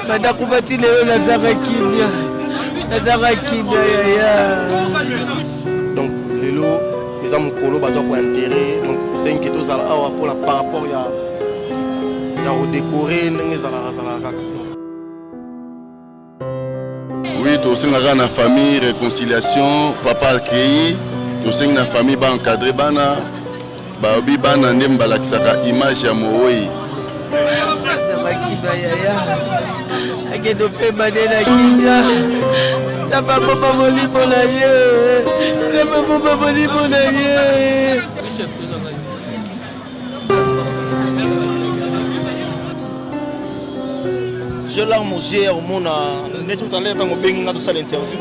badakuba ti lelo nazanga kimia nazanga kimia yaya donc lelo eza mokolo baza kointere donc esengi tozala awa mpona par rapport ya ya kodekore ndenge ezalaka zalaka kaka oui tosengaka na famille réconciliation papa akei tosengi na famille ba encadre bana Balobi bana nde balakisaka image ya moweyi. Makiba yaya akende opema nde na kimia nzambe abomba molimo na ye nzambe abomba molimo na ye je larme aux yeux ya komona nde tout à l'heure ntango obengi nga tosala interview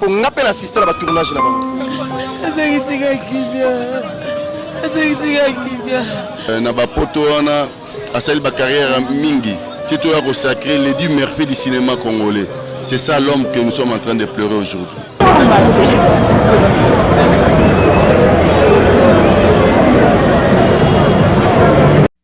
Po nga pe na sister na ba tournage na bango. Ezangi tika kimia. Ezangi tika kimia. Euh, na ba poto wana asali ba carrière mingi. C'est toi qui sacré les du merveilleux du cinéma congolais. C'est ça l'homme que nous sommes en train de pleurer aujourd'hui.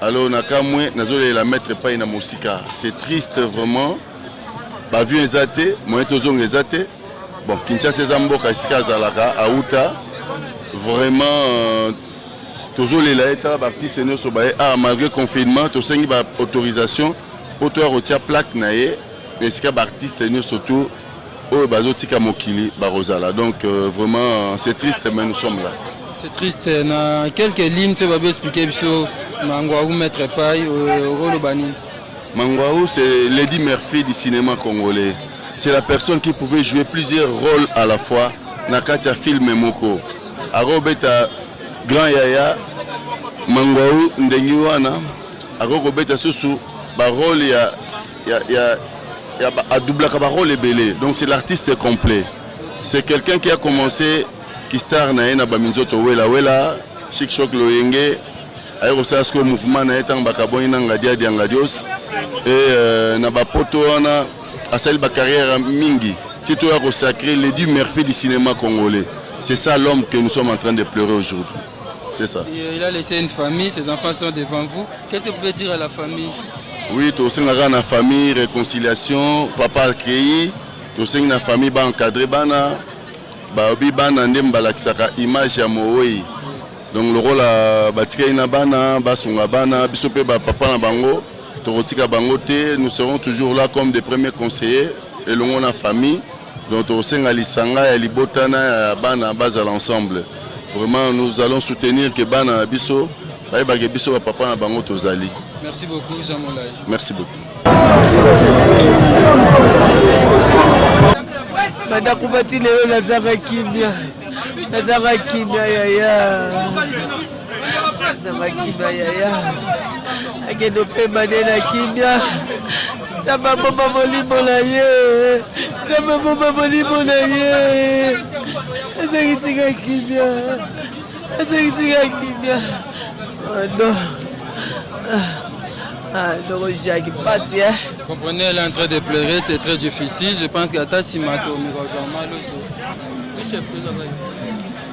Allo na kamwe nazo lela maître pai na mosika c'est triste vraiment ba vieux eza te moyen tozonga eza te bon Kinshasa eza mboka esika azalaka auta vraiment euh, tozolela ye tala baartiste nyonso baye ah malgré confinement tosengi baautorisation mpo toya kotia plaque na ye esika baartiste nyonso tu oyo bazo tika mokili bakozala donc euh, vraiment c'est triste mais nous sommes là c'est triste na quelques lignes tu vas expliquer biso mangwaru maître pai euh, okoloba nini mangwaru c'est lady murphy du cinéma congolais c'est la personne qui pouvait jouer plusieurs rôles à la fois na kati ya filme moko akobeta grand yaya mangwau ndenge wana akoki kobeta susu barole ya Ya, ya, ya, a doublaka ba rôle ebele, donc c'est l'artiste complet. C'est quelqu'un qui a commencé ki star na ye na ba minzoto wela wela, chic choc loyenge, aye kosala sikoyo mouvement na ye ntango bakabwani na ngadia dia ngadios e euh, na bapoto wana asali bacarrière mingi ti toya kosacre ledi merfi du cinéma congolais c'est ça l'homme que nous sommes en train de pleurer aujourd'hui C'est ça. Et il a laissé une famille, ses enfants sont devant vous. Qu'est-ce que vous pouvez dire à la famille Oui, tu as la famille, réconciliation, papa accueilli, tu as la famille, ba encadré bana, ba obi bana ndem balakisaka image ya mooi. Donc lokola batikali na bana, basunga bana, biso pe ba papa na bango, tokotika bango te, nous serons toujours là comme des premiers conseillers elongo na famille Donc tokosenga lisanga ya libota na ya bana bazala ensemble. Vraiment nous allons soutenir que bana na biso bayeba que biso ba papa na bango tozali. Merci beaucoup Jean Molage. Merci beaucoup. Bandako bati lelo nazanga kimia, nazanga kimia yaya. Zanga kimia yaya akende opema nde na kimia nzambe abomba molimo na ye nzambe abomba molimo na ye azangisika kimia azangisika kimia ano ndoko jaki mpasi e comprenez elle est en train de pleurer c'est très difficile je pense que ata nsima to mikozwa maloso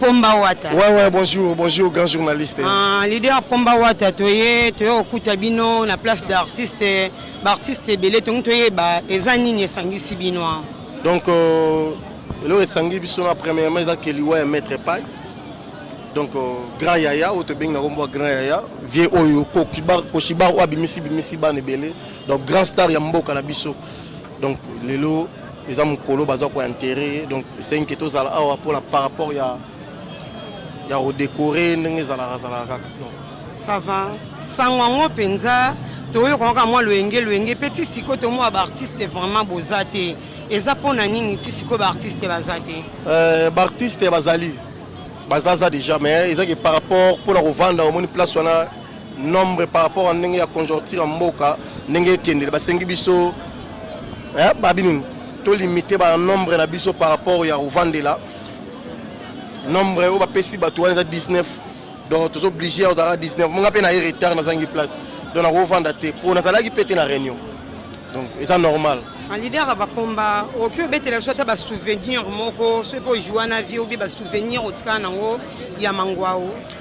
Pomba Wata. Ouais, ouais, bonjour, bonjour, grand journaliste. Ah, leader Pomba Wata, toye, toye okuta bino na place d'artiste, b'artiste ebele, tongi toye ba, eza nini esangisi bino hein? Donc, euh, eloko esangi biso na premièrement eza keliwa ya maître pai donc euh, grand yaya oyo tobengi na kombo ya grand yaya vie oyo koshibar oyo abimisi bimisi bana ebele donc grand star ya mboka na biso Donc lelo eza mukolo baza ko enterrer donc c'est que tozala awa pona par rapport ya ya redecorer ndenge ezalaka zalaka kaka donc ça va sango yango mpenza toyoka kaka mwa loyenge loyenge mpe ti sikoyo tomona baartiste vraiment boza te eza mpo na nini ti sikoyo baartiste baza te euh, baartiste bazali bazaza déjà mais ezaki par rapport mpo na kovanda omoni place wana nombre par rapport à ndenge ya conjoncture ya mboka ndenge ekendele basengi biso eh, babi nini tolimite ba nombre na biso par rapport ya kovandela nombre oyo bapesi bato wana eza 19 donc tozo oblige ya kozalaka 19 monga mpe na ye retard nazangi place donc nakovanda te mpo nazalaki mpe te na réunion donc eza normal en leader ya bakomba okoki obetela biso ata basouvenir moko soki mpe ojua na vie obi basouvenir otikala nango ya mangwao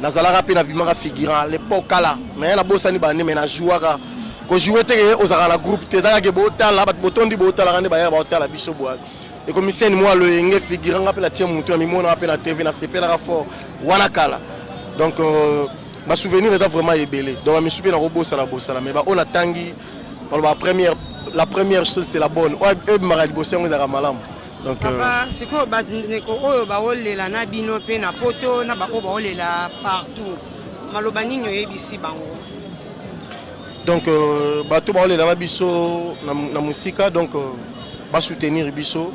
nazalaka mpe nabimaka figurant lepo kala me nabosani bande me najouaka kojoue teke ozalaka na groupe te eza kake botala bato botondi botalaka nde bayaka baotala biso boya ekomiseni mwa loyenge figurant nga mpe natie motu na mimonaka mpe na tv nasepelaka fort wana kala donc euh, basouvenir eza vraiment ebele donc bamisu mpe nakobosana bosana me baoyo natangi baloba première la première chose c'est la bonne oyo ebimaka liboso yango ezalaka malamu Sava sikoyo bandeko oyo baolela na bino mpe na poto na baoyo baolela partout maloba nini oyebisi bango donc euh, bato baolela na biso na mosika donc euh, basoutenir biso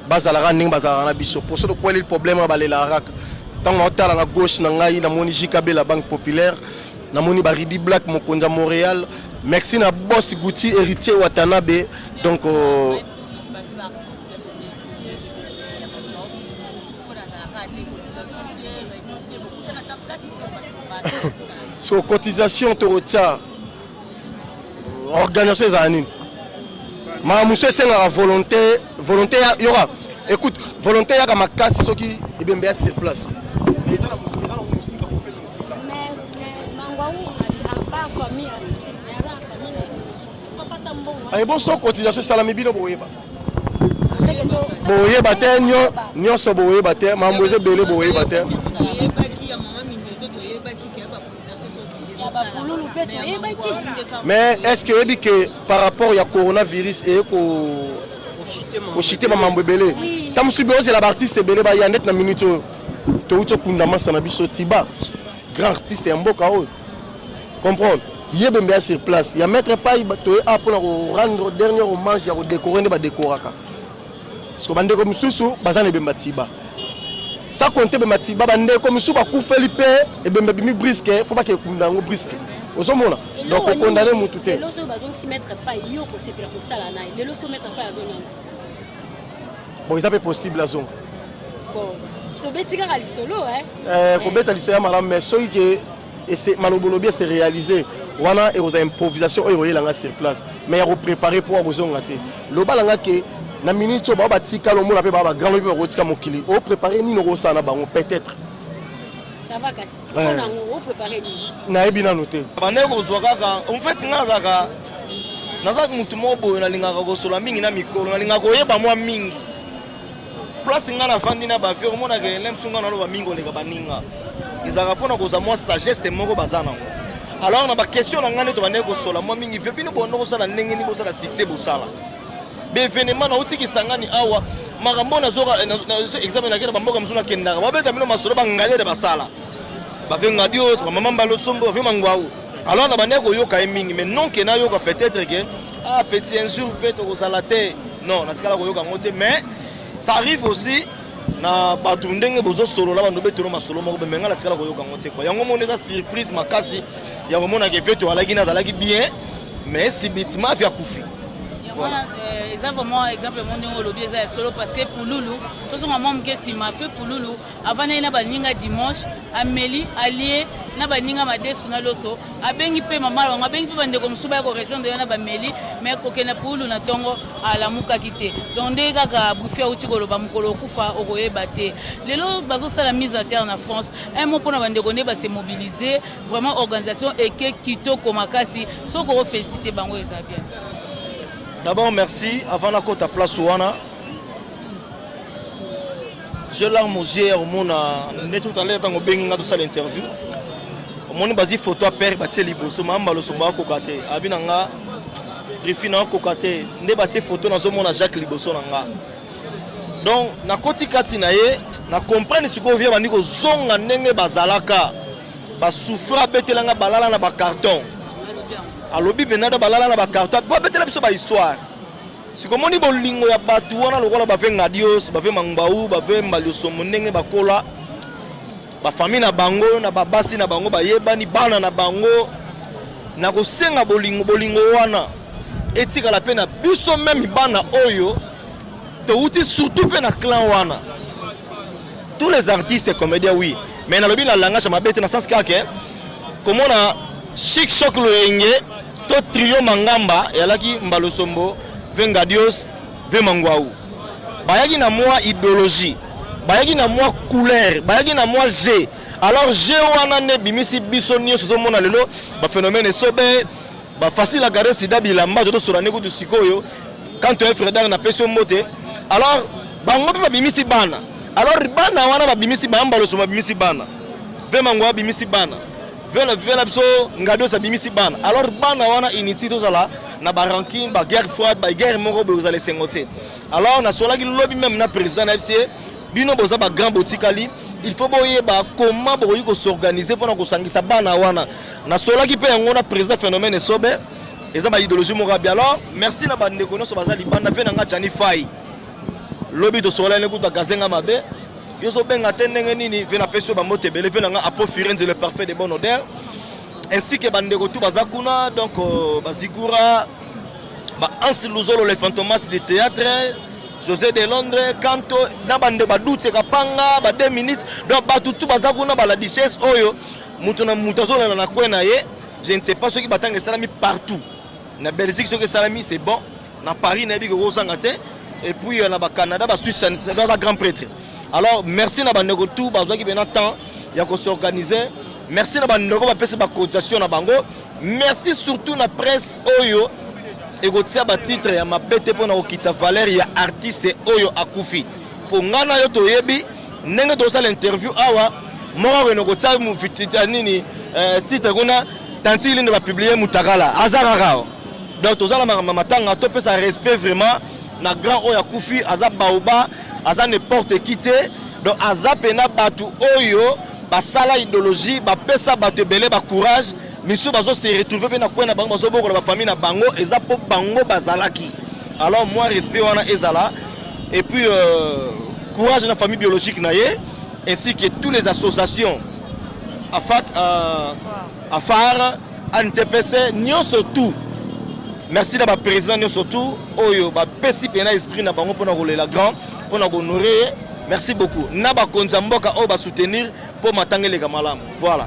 bazalaka ndenge bazalaka na biso mposo tokweleli problème balelaka kaka ntango naotala na gauche na ngai namoni jkb la banque populaire namoni baridi black mokonzi ya montréal merci na boss gouti héritier watanabe donc euh, so cotisation tokotya organisation ezala nini maa mosusu esengaka volonté volonté yoka écoute volonté yaka makasi soki ebembe ya sur place Aye bon so cotisation esalami bino boyeba boyeba te nyonso boyeba te mambo eza ebele boyeba te mais est ce que oyebi ke par rapport ya coronavirus eye koshite mamambo ebele ta mosusu beozela baartiste ebele baya ndeti na minute oyo touti okunda masa na biso tiba grand artiste ya mboka oyo comprendre ye bembe ya sur place ya maître pai toye a mpona korendre dernier hommage ya kodekore nde badekoraka parceke bandeko mosusu baza na ebemba tiba sa konte ebemba tiba bandeko mosusu bakufeli mpe ebemba bimi briske fo bake ekunda yango briske ozomona donc okondane motu te lelo soki bazongisi maître pai yo okosepela kosala naye lelo soki maître pai azonanga Bon eza pe possible azonga. Bon tobeti kaka lisolo eh. Eh kobeta lisolo ya malamu mais soki ke ese malobolobi ese réaliser wana ekozala improvisation oyo ekoyela nga sur place mais ya koprépare mpo akozonga te lobala nga ke na minute oyo bao batika lomona mpe baa bagrand lobi bakotika mokili oprépare nini okosala na bango peut-être nayebi nanu te bande kozwa kaka en fait nga nazalaka nazalaka motu moko boye nalingaka kosola mingi na mikolo nalingaka koyeba mwa mingi place nga nafandi na bavie omonaka elemsu nga naloba mingi koleka baninga ezalaka mpona kozwa mwa sageste moko baza nango alors na baquestion na ngai nde tobandaki kosola mwa mingi vio bino bonde kosala ndenge nini bosala succès bosala bevenema nauti kisangani awa makambo nazoka examen nakenda bamboka mosusu nakendaka babeta bino masolo bangalere basala bave ngadios bamama mbalosombo bave mangwau alors na bandaki koyoka ye mingi mais non ke nayoka peut-être ke ah petit un jour mpe tokozala te non natikala koyoka yango te mais ça arrive aussi na bato ndenge bozosolola bando betolo masolo moko bemenga natikala koyoka yango te kua yango moni eza surprise makasi ya komonaka eveto alaki na azalaki bien mais sibitima avi akufi yango wana euh, eza vraiment exemple yango ndenge olobi eza ya solo parce que pululu tozonga mwa moke nsima fe pululu avandaki na baninga dimanche ameli alie na baninga madesu na loso abengi mpe mama bango abengi mpe bandeko mosusu baya koregion de na bameli mai kokenda pulu na ntongo alamukaki te donc ndenge kaka bufi auti koloba mokolo okufa okoyeba te lelo bazosala mise à terre na france un mot mpo na bandeko nde base mobilise Vraiment organisation eke kitoko makasi soki oko feliciter bango eza bien. D'abord merci avant na kota place wana je larme aux yeux omona nde tout à l'heure ntango obengi nga tosala interview omoni bazi photo ya père batie liboso mayamba losombo akoka te abi na nga rifi na akoka te nde batie photo nazomona jacques liboso na nga donc nakoti kati na ye na comprendre sikoyo vie bandi kozonga ndenge bazalaka Ba souffra abetela nga balala na ba carton. Alobi venada balala na ba carton. Ba betela biso ba histoire. Sikomoni bolingo ya bato wana lokola bave ngadios, bave mangbau, bave mbaliosomo ndenge bakola ba famille na bango na babasi na bango bayebani bana na bango na kosenga bolingo bolingo wana etikala mpe na biso meme bana oyo towuti surtout mpe na clan wana tous les artistes comédiens oui mais nalobi na langage ya mabe te na sens kaka ke komona chic choc loyenge to trio mangamba eyalaki mbalosombo ve ngadios ve mangwau bayaki na mwa idéologie bayaki na mwa couleur bayaki na mwa jeu alors jeu wana nde ebimisi biso nyonso tozomona lelo baphénomène esobe Ba facile à garder sida bilamba to sura ne kutu sikoyo quand tu es frère d'art na peso mbote alors bango pe babimisi bana alors bana wana babimisi bana mbaloso babimisi bana ve mango abimisi bana vela vela biso ngados abimisi bana alors bana wana initi tozala na ba ranking ba guerre froide ba guerre moko boye ozala esengo te alors nasolaki lobi meme na président na fca bino boza ba grand botikali il faut boyeba comment bokoki kosorganize mpona kosangisa bana wana Na solaki pe yango na president phenomène esobe eza ba ideologie moko abi alors merci na ba ndeko nyoso baza libanda pe na nga Jani Fai lobi to sola ne kuta gazenga mabe yo zo benga te ndenge nini ve na pesi ba mbote bele ve na nga apo firenze le parfait de bonne odeur ainsi que ba ndeko tout baza kuna donc euh, ba zigura ba Hans Luzolo le fantomas du théâtre José de Londres, Kanto, na bande ba doute kapanga, ba deux ministres, donc ba tout baza kuna ba la dichesse oyo Moto na moto azolanda na coin na ye. Je ne sais pas soki batanga esalami partout. Na Belgique soki esalami c'est bon. Na Paris nayebi ke kozanga te. Et puis euh, na ba Canada, ba Suisse, ça doit être grand prêtre. Alors merci na bandeko tout bazwaki pena temps ya ko s'organiser. Merci na bandeko bapesi ba cotisation na bango. Merci surtout na presse oyo ekotia ba titre ya mabe te mpo na kokitisa valeur ya artiste oyo akufi. Mpo ngai na yo toyebi Ndenge tosala interview awa moko akende kotia mufitita nini eh, titre kuna tantili nde bapublie mutakala aza kaka awa donc toza na makambo ya matanga topesa respect vraiment na grand oyo akufi aza baoba aza n'importe qui te donc aza mpena bato oyo basala idéologie bapesa bato ebele bacourage misusu bazo se retrouve mpe na kwe na bango bazobokola bafamille na bango eza mpo bango bazalaki alors moi respect wana ezala et puis euh, courage na famille biologique na ye ainsi que tous les associations afak euh, afar antepese nyonso tout merci na baprésident nyonso tout oyo bapesi mpena esprit na bango mpona kolela grand mpona kohonore ye merci beaucoup na bakonzi ya mboka oyo basoutenir mpo matanga eleka malamu voilà